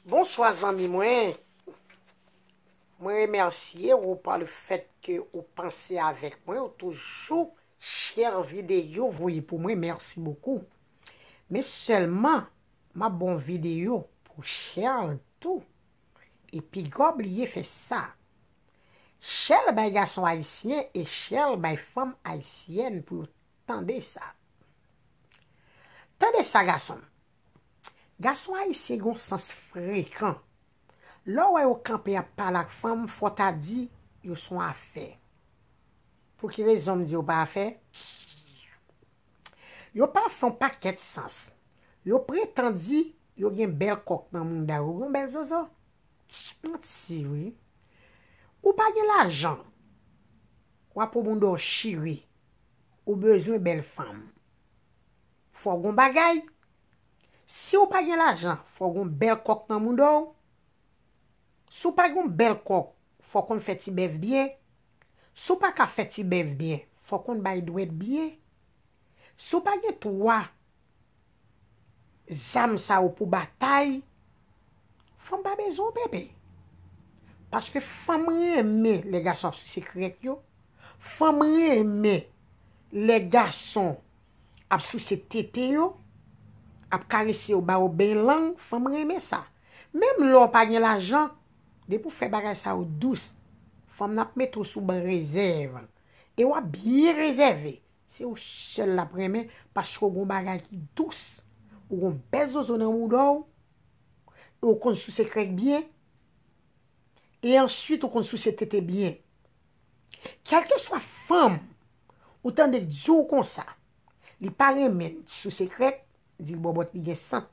Bonswa zanmi mwen, mwen remèsye ou pa le fèt ke ou panse avèk mwen, ou toujou chè videyo voye pou mwen, mèsi bokou. Men sèlman, map bon videyo pou Shell tou, e pigaw bliye fè sa. Shell bay gason ayisyen e Shell bay fanm ayisyèn pou yo tande sa. Tande sa gasonm, Gason ayisyen gen yon sans frekan. Lè w wè yo kanpe ap pale ak fanm, fò w ta di yo s on afè. Pou ki rezon m di yo pa afè? Yo pa fè yon pakèt sans. Yo pretan di yo gen bèl kòk nan mouda yo. Ou gen yon bèl zozo? Manti wi. Ou pa gen lajan. W ap wè mouda w chire. Ou bezwen bèl fanm. fò w gon bagay. Si w pa gen lajan, fò w gon bèl kòk nan mouda w. Si w pa gon bèl kòk, fò w konn fè ti bèf byen. Si w pa ka fè ti bèf byen, fò w konn bay dwèt byen. Si w pa gen twa zam sa yo pou batay, fanm pa bezwen w bebe. Paske fanm renmen lè gason ap sise krèk yo, fanm renmen lè gason ap souse tete yo, ap karese yo ba yo ben lang, fanm renmen sa. Menm lè w pa gen lajan, depi w fè bagay sa yo dous, fanm nan ap mete w sou ban rezèv. E w ap byen rezève, se ou sèl l ap renmen paske w gen yon bagay ki dous, ou gen yon bèl zozo nan mouda w, e w konn souse krèk byen, e answit ou konn souse tete byen. Kelkeswa fanm ou tande k di w konsa, li pa renmen n di sou sekrèt, di l bòbòt li gen sant,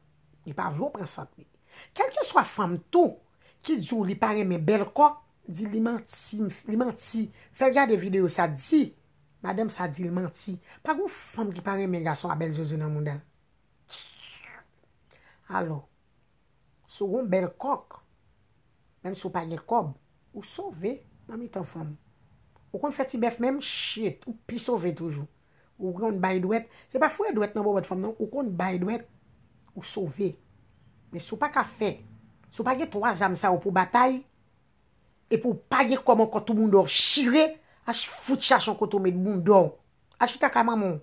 li pa vle w pran sant li. Kelkeswa fanm tou ki di w li pa renmen bèl kò, di l li manti, li manti, fè l gade videyo sa, di madanm sa di l manti. Pa gen w fanm ki pa renmen gason a bèl zozo nan mouda l. Alò, Si w gon bèl kòk, menm si w pa gen kòb, ou sove nan mitan fanm. Ou konn fè ti bèf menm, shitt, ou pi sove toujou. Ou konn bay dwèt, se pa fouye dwèt nan bòbòt fanm non, ou konn bay dwèt, ou sove. Men si w pa ka fè, si w pa gen twa zam sa yo pou w batay, epi w pa gen kòb ankò tou bounda w chire, al fout chache yon kote w met bounda w. Al chita kay manman w.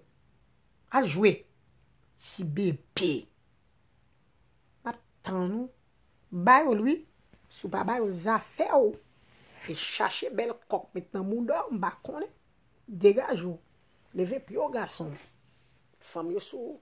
Al jwe. Ti bebe. Map tann ou. Ba yo l wi. Si w pa ba yo l zafè w. E chache bèl kòk met nan mouda w m pa konnen. Degaje w. Leve pye w gason m. Fanm yo sou ou.